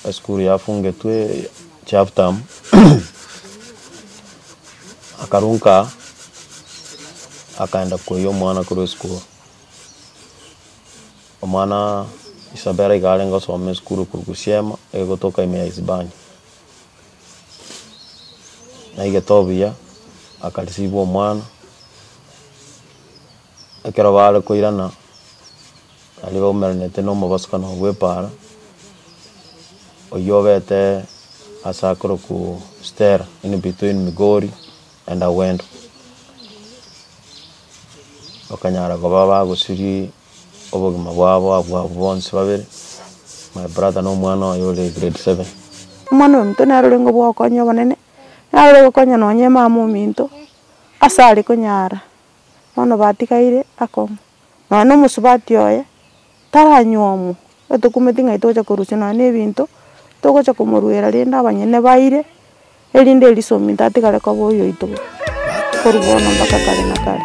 Esukuru yafungetwe chaptam akarunka akaenda koyia omwana korwa esukuru omwana isabera iga arenge osome esukuru korwa gusiama egotoka ime ya isibania naigete obuya akarisibwa omwana Ekero baare koirana, baria baumeranete nomobosokano oo bw'epaara, oyio obete ase akorokwu Stella in between Migori and Awendo, bakanyara koba abagosiria obogima bwabo abwo abwo bonsi babere, my brother na omwana oye ore grade seven. Omwana ominto nere ore ngobokonywa obonene, naro ore gokonya nonye emama ominto, ase are konyara bono batigaire akong'u, nonya na omosubati oye, taranywomu, otokumeti ng'ai togocha korusia nonya na ebinto, togocha komoruera rende abanyene baire, erinde eriso ominto atigare koba oyoito korwa bono mpaka kare na kare.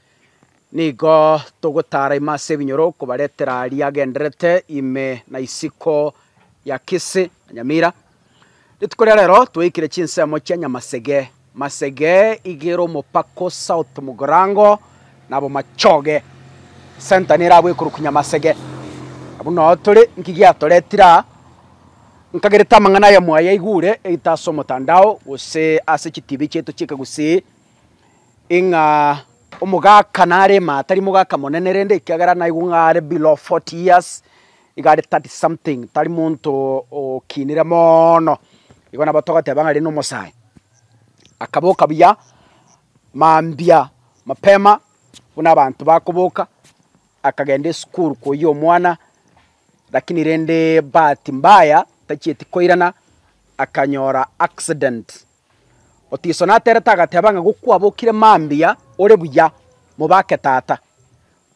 Nigo togotaara ime ase ebinyoro kobaretera aria agendererete ime na isiko ya Kisii na Nyamira. Rituko ria rero tweikire chinsemo chia Nyamasege, Masege, Igere Omopako, South Mugorango na Bomachoge. Center nere abwo ekorokwa Nyamasege. Abwo nao tore, nki giatoretire aa? Nkagerete amang'ana aya mwayaigure either ase omotandao gose ase chitibi chiaito chi'ekegusii, Ing'a omogaka nare ime atari mogaka monene rende ekiagera naigwe ng'a are below forty years, iga are thirty something tari monto okinire moono, igo nabo togoteba ng'a aria nomosae. Akaboka buya mambia mapema buna abanto bakoboka, akagenda esukuru koyia omwana, rakini rende bahati mbaya tachieti koirana akanyora accident. Otiso naterete agateba ng'a gokwabokire mambia ore buya, mobake tata.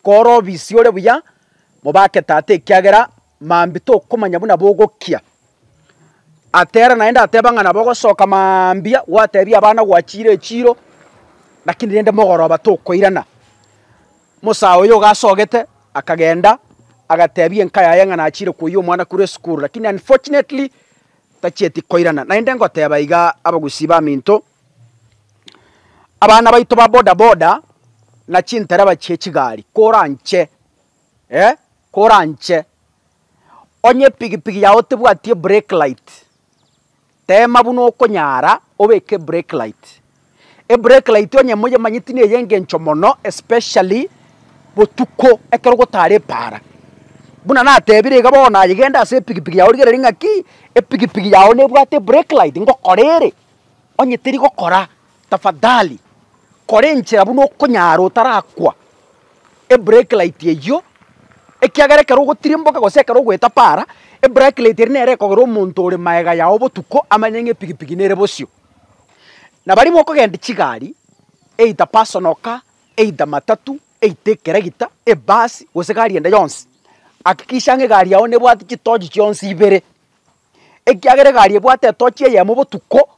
Kore obisi ore buya, mobake tata ekiagera mambia tokomanya buna bogokia. Atera naende ateba ng'a nabo ogosoka mambia gwatebia abana gwachire echiro, lakini rende mogoroba tokoirana. Mosae oyo gasogete akagenda agatebia enka yaye ng'a nachire koyia omwana korwa esukuru, lakini unfortunately Tachieti koirana naende ngoteeba iga abagusii baminto, abana baito ba boda boda na chintereba chie chigari koranche eh koranche. Onye epigipigi yao tebwati ebrake light, teema buna okonyara obeke ebrake light. Ebrake light onye moyemanyeti ne eyengencho mono especially botuko ekero gotare epaara. Buna natebire iga bono aye genda ase epigipigi yao rigereria ng'a ki epigipigi yao nebwate ebrake light ngokora ere onye teri gokora tafadhali kora enchera buna okonyara otarakwa ebrake light eyio ekiagera ekero ogotirimboka gose ekero ogoeta paara ebrake light eria nere ekogera omonto ore magega yao botuko amanye ng'a epigipigi nere bosio. Na baria mokogendia chigari, either personal car, either matatu, either ekeregita, ebasi, gose egari ende yonsi, hakikisha ng'a egari yao nebwati chitochi chionsi ibere, ekiagera egari ebwate etochi eyemo botuko,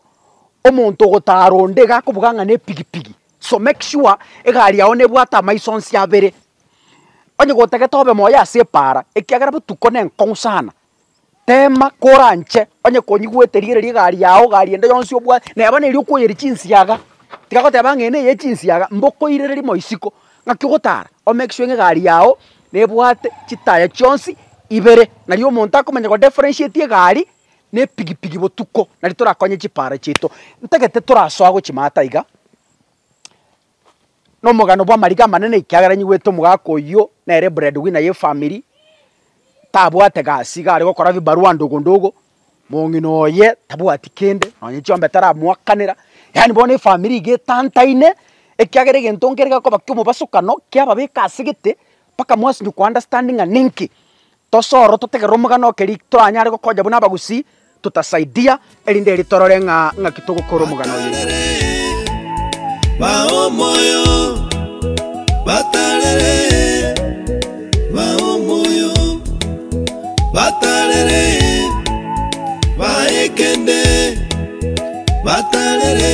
omonto ogotara onde iga akobuga ng'a nepigipigi, so make sure egari yao nebwate amaiso onsi abere. Onye gotagete obe moyo ase epaara, ekiagera botuko nenkong'u sana. Teema koranche onye konya igwete rigereria egari yago, egari ende yonsi obwate, neba neri okoyeria chinsiaga, tiga goteba ng'a eye neye chinsiaga, mbokoirere rimo isiko, ng'aki ogotara o make sure ng'a egari yago nebwate chitaya chionsi ibere. Nari omonto akomanya go differentiate egari na epigipigi botuko, nari torakonye chipara chiaito. Ntagete torasoa gochia maata iga, nomogano bw'amariko amanene ekiagera nyigwete omogaka oyio nere breadwinner y'efamiri, tabwate gasi iga are gokora bibarua ndogo ndogo, mong'ina oye tabwati kende, nonye chiombe taramoakanera, yaani bono efamiri iga etantaine ekiagera egento nkere gekoba ki'omobasokano kiababeka ase gete, Mpaka mwasinywa ko understand ng'a ninki tose oro totegerere omogano oke ri toranyare gokonya buna abagusii totasaidia erinde eri torore ng'a ng'aki togokora omogano oye. Batanere, bao moyo, batanere, bao moyo, batanere, baekende, batanere,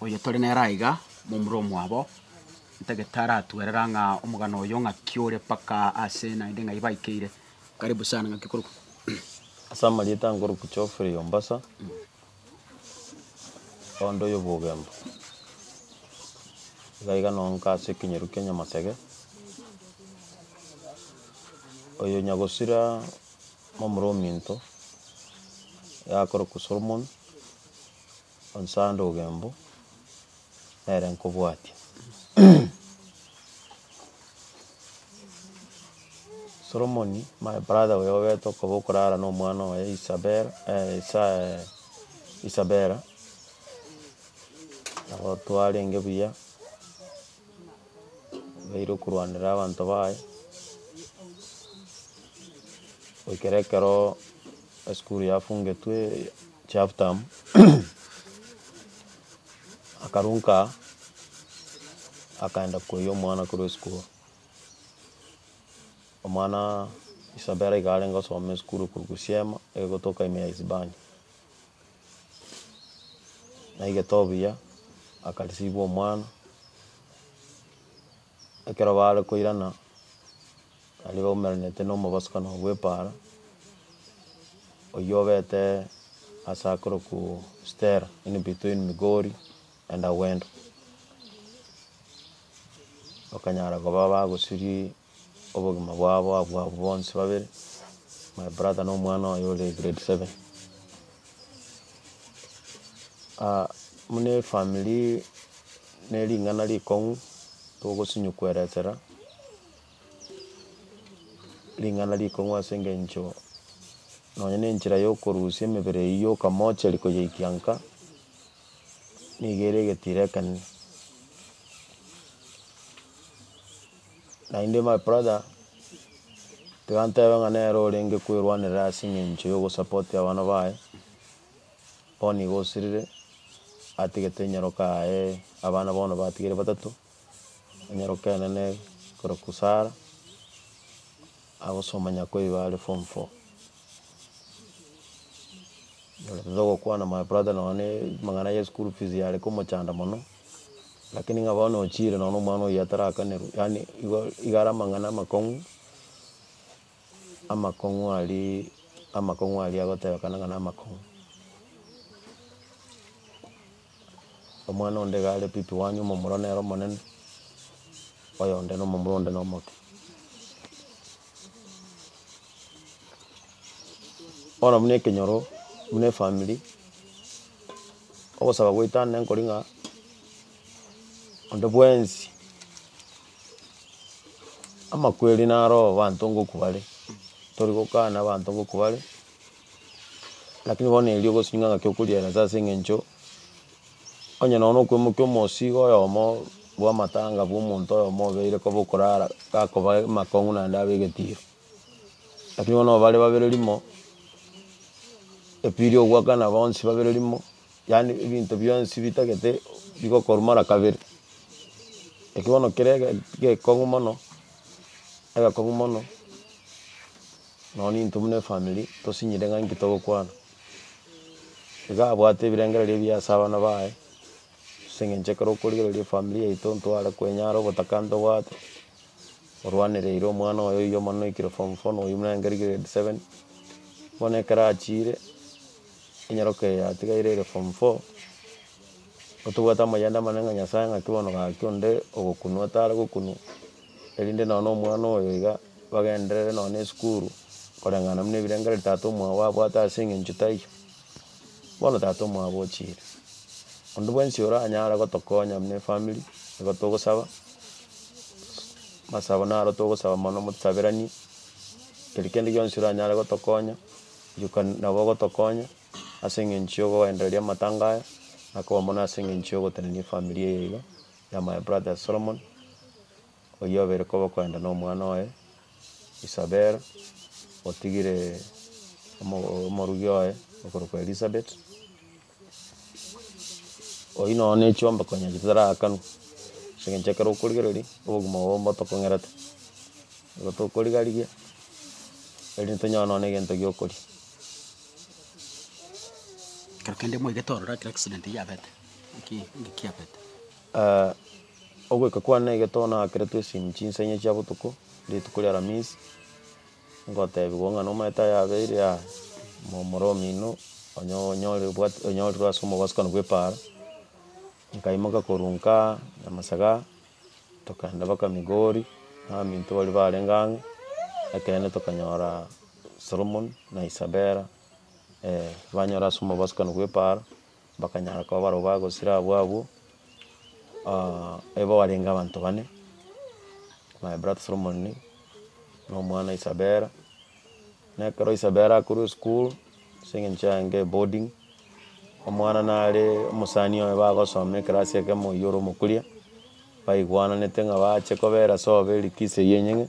oyotore nere aiga, momura omwabo, ntagete taratwerera ng'a omogano oyo ng'aki ore mpaka ase naende ng'ai baikeire. Karibu sana ng'aki okorokwa? Ase amarieta nkorokwa Geoffrey Ombasa, oonde oyobogemba. Iga iga noo nka ase ekenyaru kia Nyamasege, oyo nyagosira momura ominto, yakorokwa Solomon, Onsi ande ogembu, nere nkobwatia Solomoni, my brother oyo obete okoba okorara na omwana oye Isabela Isaya Isabela, nabo twarenge buya, baire okorwanera abanto baye, goikera ekeroo esukuru yafungetwe. Chapter akarunka akaenda koyia omwana korwa esukuru omwana isabera iga arenge osome esukuru korwa gusiema egotoka ime ya isibani naigete obuya akarisibwa omwana Ekero baare koirana, baria baumeranete nomobosokano oo bw'epaara, oyio obete ase akorokwu Stella in between Migori and Awendo, bakanyara koba abagosiria obogima bwabo abwo abwo bonsi babere, my brother na omwana oye ore grade seven. buna efamiri ne ring'ana rikong'u togosinywa koeresera ring'ana rikong'u ase engencho nonye na enchera ya okorusia emebere eywo ya okamocheri koyeikia nka, nigo ere egetiro ekenene. Naende my brother, tiga ntebe ng'a nere orenge kwerwanerera ase eng'encho ya ogosapoti abana baye, bono igo osirire, atigete nyaroka yaye, abana bono batigeire batato, nyaroka enene korokwa Sarah. Agosoma nyakwa igo are form four nyorete togokwana my brother nonya ne amang'ana ye school fees yare komochanda mono lakini ng'a bono ochiire nonya na omwana oyio atarakanerwe yaani igo igo are amang'ana amakong'u amakong'u aria amakong'u aria agotebekana ng'a na amakong'u. Omwana onde iga are pipi wanyu, omomura nere omonene, oyonde nomomura onde nomoke. Bono buna ekenyoro buna efamiri, ogosaba goetane nkori ng'a onde bwensi amakweri naro abanto ngokubare, tori gokana abanto ngokubare. Lakini bono erio ogosibia ng'a ng'aki okoriera nsa ase eng'encho onye nonya na okwemokia omosigo oyomo bw'amatanga bw'omonto oyomo obeire koba okorara gakoba amakong'u naende abe egetiro. Lakini bono nonya bare babere rimo, epiri ogoakana bonsi babere rimo, yaani ebinto bionsi bitagete bigokorwa mara kabere. Eki bono kere ege gekong'u mono, egekong'u mono. Nonya intwe buna efamiri tosinyire ng'a inki togokwana. Iga abwate ebirengererio ebiya ase abana baye, ase eng'encho ekero okorigereria efamiri yaito ntware kwenyara obotaka ntobwate, orwanereire omwana oye oyio omonene oikire form four na oyio buna nere grade seven. Bono ekero achiire, enyaroka eye yatigaire ere form four, otobwate amayanda amanene ng'a Nyasae ng'aki bono gaki onde ogokunwa tare gokunwa. erinde nonya na omwana oyo iga bagenderere nonya na esukuru, koreng'ana buna ebirengereri tata omwabo abwate ase eng'encho taiyo, bono tata omwabo ochiire. Onde bwensi oranyare gotokonya buna efamiri, nigo togosaba, amasabo naro togosaba mono mosaberanie, keri kende gionsi oranyare gotokonya, rioka nabo ogotokonya ase eng'encho ya ogoendereria amatanga aya, na koba mono ase eng'encho ya ogotenenia efamiri eye iga, Na my brother Solomon, oyio obere koba okoenda nomwana oye Isabella, otigire omo omorugi oye okorokwa Elizabeth, oyio nonya ne chiombeko onye chitaraakanu, ase eng'encho ekero okorigereria obogima obo mbo tokong'erete, nigo tokorigarigia erinde tonyore nonya ne egento giokoria. Ekero kende mwaigete ororo ekero accident yabete. Ogoika kwane na egento naakeretwe esimi chinsaine chia botuko, rituko ria aramisi, ngotebigwa ng'a nomanyete ayabeire aa, momura omino onyo- onyore obwate onyorire ase omobosokano bwa epaara, nkaimoka korwa nkaa nyamasaga, tokagenda mpaka migori, nabaminto baria barenge ang'e, ekeene tokanyora solomon na isabela banyora ase omobosokano bwa epaara. bakanyara koba barobwo bagosira abwo abwo, igo barenge abanto bane, my brother solomon, na omwana isabela, na ekero isabela akorwa esukuru ase eng'encho yaye eboarding, omwana nare omosani oye bagosoma ekerasi ekemo oywo ore omokuria, baigwananete ng'a bache kobera sobo likizo eye enyeng'e,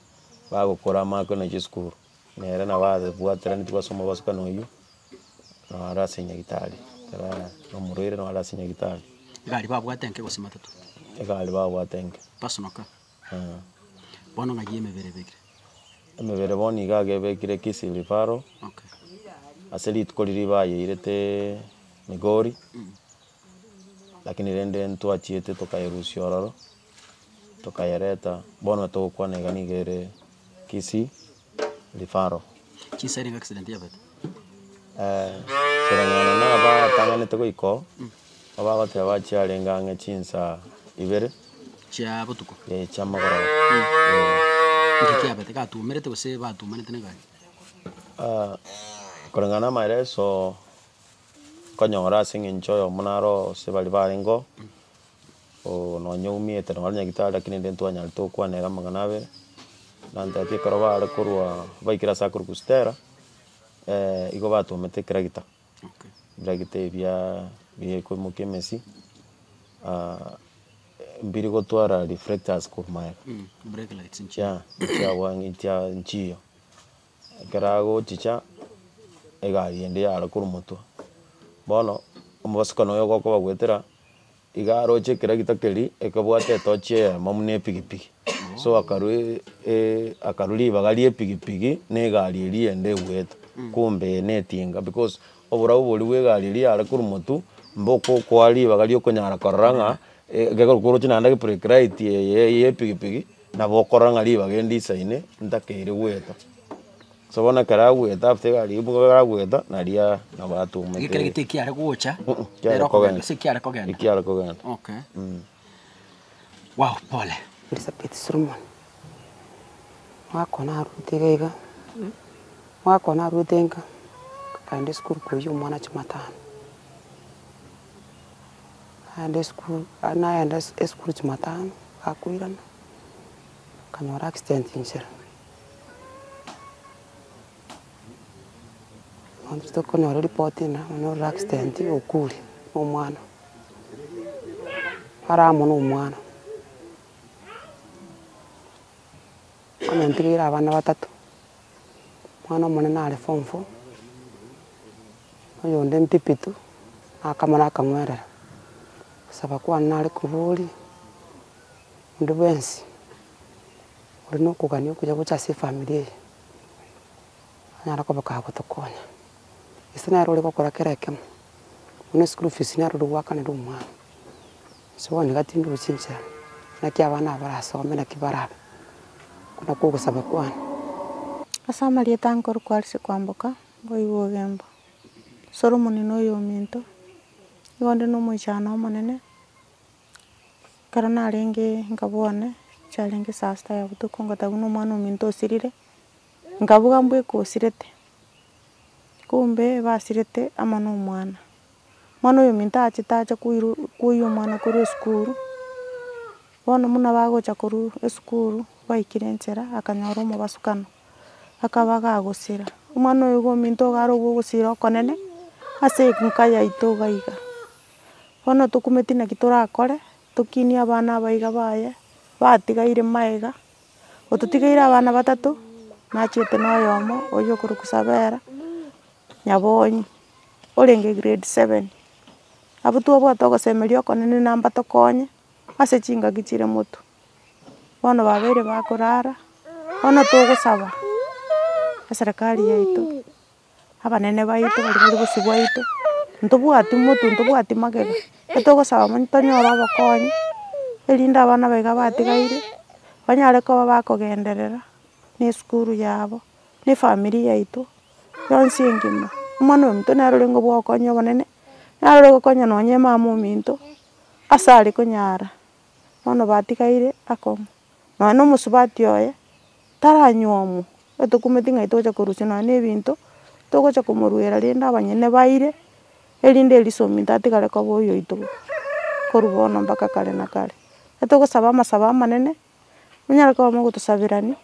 bagokora amako na chesukuru. Nere nabo abwateranetigwe ase omobosibwa oyio, noro aro ase nyagetari, ekero are nomorwaire noro aro ase nyagetari. Egari babwate enke gose matatu? Egari babwate enke. Personal car? Eeh. Bono ng'ai y'emebere ebekire? Emebere bono iga iga ebekire Kisii Referral, Okay. Ase rituko riria bayeirete Migori, lakini rende ntwachiete tokayerusia ororo. tokayereta bono togokwana iga niga ere Kisii referral. Koreng'ana na abatang'anete goika oo, abagoteba chiarenge ang'e chinsaa ibere eh, chiamagoroba eh. Koreng'ana na amaeleso nkonyora ase eng'encho oyomo naro ase baria barenge oo, Oo nonya oumete nonye nyagetari lakini rende ntwanyarete gokwana ere amang'ana abere, nantete ekero bare korwa baikire ase akorokwa stella igo batwomete ekeragita, ebiragita ebi bia biakoimokia emesi mbiri gotwara reflectors korwa maega chiaa chiabwani chia nchiyo, ekero agochicha egari ende yara korwa motwe, bono omobosibwa noyo gokobagoetera Iga aroche ekeragita keria ekebwate etochi eyemo buna epigipigi, so akarwa akarwa ribaga riepigipigi na egari eria eyende egoeta, kumbe eye netinga because oborabu boria bwa egari eria yare korwa motwe mbokokoa ribaga riokonyara korora ng'a ekero koroche naende ege brake light eye ya epigipigi nabo okorora ng'a ribaga eri ndisaine ntakeire goeta. So bono ekero agwete, after iga ribuga iga agwete, naria nabo atumete. Ekero gete ekiare gocha, Mm-mm, kiare ere okogenda, kogenda. ase ekiare kogenda. Ekiare kogenda. Okay. Wow, pole. Elisabeth Solomon, omwaka one arurete iga iga, omwaka one arurete inka, nkagenda esukuru koiyia omwana chimatano. Nagenda esukuru, aa nagenda ase esukuru chimatano, gakoirana, nkanyora accident inchera. Onsi tokonyora report ena onye ore accident okure na omwana are amo na omwana onye ntigeire abana batato omwana omonene are form four oyonde mpipi tu nakamare akang'werera gosaba kwane nare korwa oria onde bwensi. Ore nokogania okuya gocha ase efamiri eye, anyare koba kagotokonya, gese nere ore gokora kera ekemo, buna eschool fees nere ore goakanera omwana, gose one gatindwe chinchera, naki abana aba barasome naki barabe, oko nakwo ogosaba kwane. Ase amarieta ankoro kwarisia kwamboka, boigo ogemba, Solomoni noyo ominto, igo onde nomoichano omonene. Ekero narenge inga bono, chiarenge saa sita ya botuko ngoteba buna omwan'ominto osirire, nkabuga mbwa eka osirete, kumbe basirete amo na omwana. Omwana oyo ominto achete ache koirwa koiywa omwana korwa esukuru, bono buna bagocha korwa esukuru, baikire nchera akanyora omobasukano, akaba kagosira, omwana oyo iga ominto iga arobwo ogosira okonene ase enka yaito iga iga. Bono tokumeti naki torakore, tokinie abana aba iga baye, batigaire magega, ototigeire abana batato, nachete na oyomo oyio okorwa Kisabera, Nyabonyi, orenge grade seven. Abwo twabwate ogosemeria okonene na mbatokonye ase chingaki chire motwe. Bono babeire bakorara, bono togosaba eserekari yaito. abanene baito baria bare bosio bwaito, ntobwati motu ntobwati magega, getogosaba mono tonyore obokonyi, erinde abana baiga batigaire, banyare koba bakogenderera, na esukuru yabo, na efamiri yaito, yonsi engima, omwana ominto nere orenge obwo ogokonya obonene, naro ore gokonya nonya emama ominto, ase are konyara, bono batigaire akong'u. Nonya na omosubati oye, taranywomu, igo tokumeti ng'ai togocha korusia nonya na ebinto, togocha komoruera rende abanyene baire, erinde eriso ominto atigare koba oyoito korwa bono mpaka kare na kare. Igo togosaba amasabo amanene, monyare koba mogotosaberani,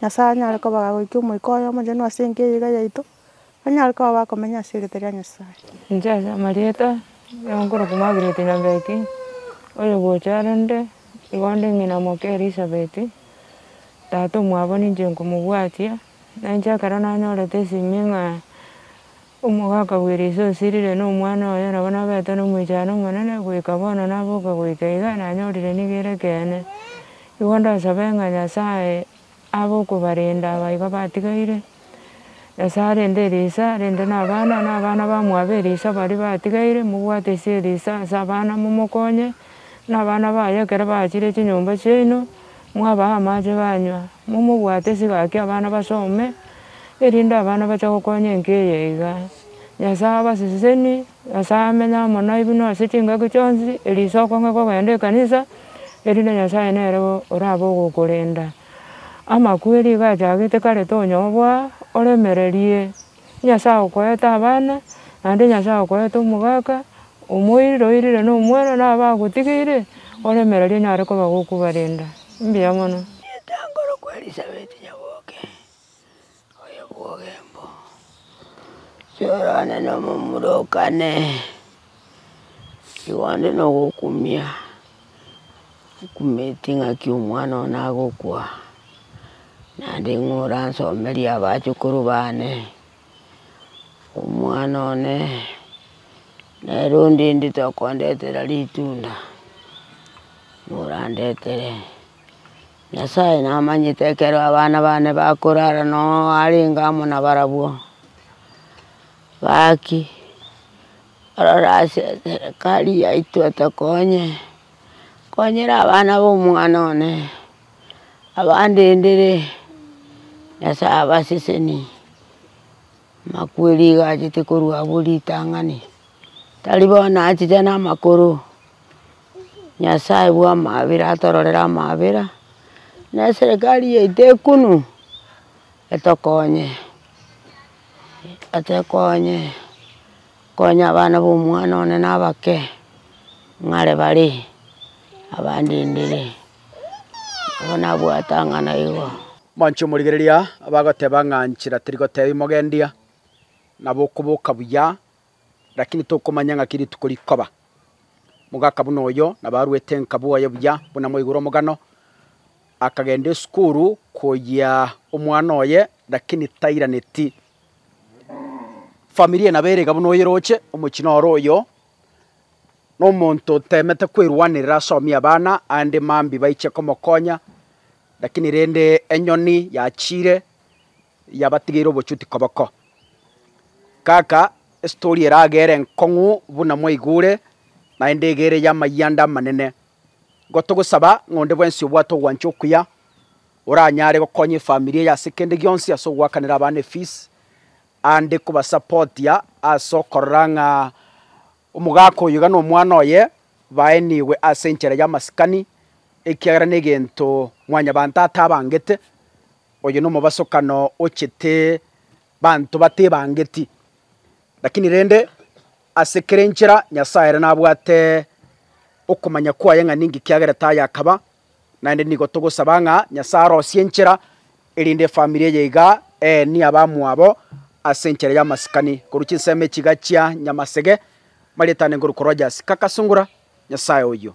Nyasaye anyare koba agoiki omoika oye omochenu ase enka eye iga yaito. Onyare koba bakomenya ase erieta ria Nyasae. Inche ase amarieta ya okorokwa Margaret Nyambeki, oyogocha arende igo nde ng'ina moke Elisabeth, tata omwabo ninche nkomobwatia, na inche ekero nanyorete esimi ng'a omogaka bw'eriso osirire na omwana oye nabo nabete na omoichano omonene, goika bono naboka goika iga, nanyorire nigo ere ekeene. Igo ndasaba ng'a Nyasae. Abokobarenda abaiga batigaire, Nyasae arende erisa rende nabana, nabana bamwabo erisa baria batigaire, mobwate ise erisa ase abana momokonye, nabana baye ekero bachire chinyomba chiaino, mwabaha amache banywa, momobwate sigaki abana basome, erinde abana bache gokonya enka eye iga. Nyasae abaseseni. Nyasae amenye amo nainwe ase chingaki chionsi, eriso okonge kogenda ekanisa, erinde Nyasae nere orabe ogokorenda. Amakweri iga achagete kare tonyoboa, oremererie, Nyasae okoete abana, naende Nyasae okoete omogaka, omoirire oirire na omwana na abagotigeire, oremererie onyare koba gokobarenda. Mbuya mono. Rieta ngoro kw'Elisabeti nyaboke. oyobwogembo, siorane nomomura o kane, igo onde nogokumia, okumeti ng'aki omwana one agokwa, naende ng'a oransomerie abachukuru bane, omwana one, nere ondendete tokondetera ritunda, ng'a orandetere. Nyasae namanyete ekero abana bane bakorara noo arenge amo nabarabwo, gaki orore ase eserekari yaito etokonye, konyera abana ba omwana one, abandendere, Nyasae abasesenie. Amakweri iga achete korwa abo ritang'ani, tari bono achiche na amakoro, Nyasaye bwa amabera atororere amabera, na eserekari yaito ekunu etokonye, etekonye konye abana ba omwana one na abake ng'are bare abande ndere. Abo nabwatang'ana igo. Mwanche omorigereria abagoteba ng'a nchera terigotebi mogendia, nabo okoboka buya, lakini tokomanya ng'aki rituko rikoba. Mogaka buna oyo nabo aruete nka bwoye buya buna mwaigure omogano, akagenda esukuru koyia omwana oye lakini tairaneti. Familia nabo ere iga buna oyeroche, omochie noro oyo. Nomonto otemete kwerwanerera asomie abana, aande mambia baiche komokonya, lakini rende enyoni yachiire yabatigeire obochuti koboko. Kaka estori eragere enkong'u buna mwaigure, naende egere y'amayanda amanene. Igo togosaba ng'a onde bwensi obwate ogwancha okuya, oranyare gokonya efamiri eye ase kende gionsi, ase ogwakanera abana efees, aande kobasapotia ase okorora ng'a omogaka oyo iga nomwana oye baenigwe ase enchera y'amasikani, ekiagera negento Mwanyabaanto atabangete, oyo nomobasokano ochete banto batebangeti. Lakini rende, ase kera enchera Nyasae ere nabwate okomanya kwaye ng'a ninki kiagera tayakaba, Naende nigo togosaba ng'a Nyasae arosie enchera, erinde efamiri eye iga eenie abamwabo ase enchera y'amasikani korwa chinsemo echi iga chia Nyamasege, marietane ngoru korwa Jasika Kasungura, Nyasae oyio.